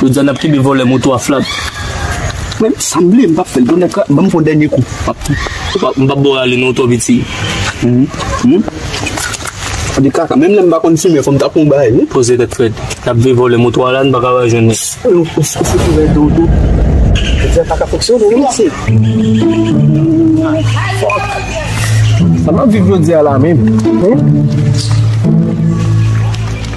Jodi a nap kenbe vòlè moto a flat. Men sanble m pap fèl bonè ka banm fon dènye kou. M pap bo rale non tòv iti. Ou di kaka menm lèm pa konn fimen fòm ta pran bagay wi. Poze tèt frèt. Nap veye vòlè moto a la n pa ka va jwenn li. Ou fout rèd ou tou. Jodi a paka fonksyone wi mesye. Sa map viv jodi a la menm.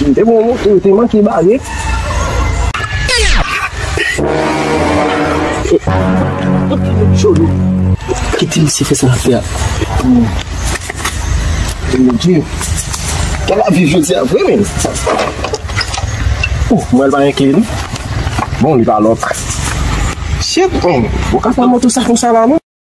Te bon moun ou te manke bare. Kite misye fè sa lap fè a. Mon Dieu. Kè la viv jodi a vre men. Ouh, mwen pa gen kle li. Bon li pa lòk. Shit men, ou ka pran moto sa konsa la non.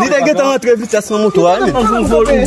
Li te gentan rantre vitès nan moto a menm.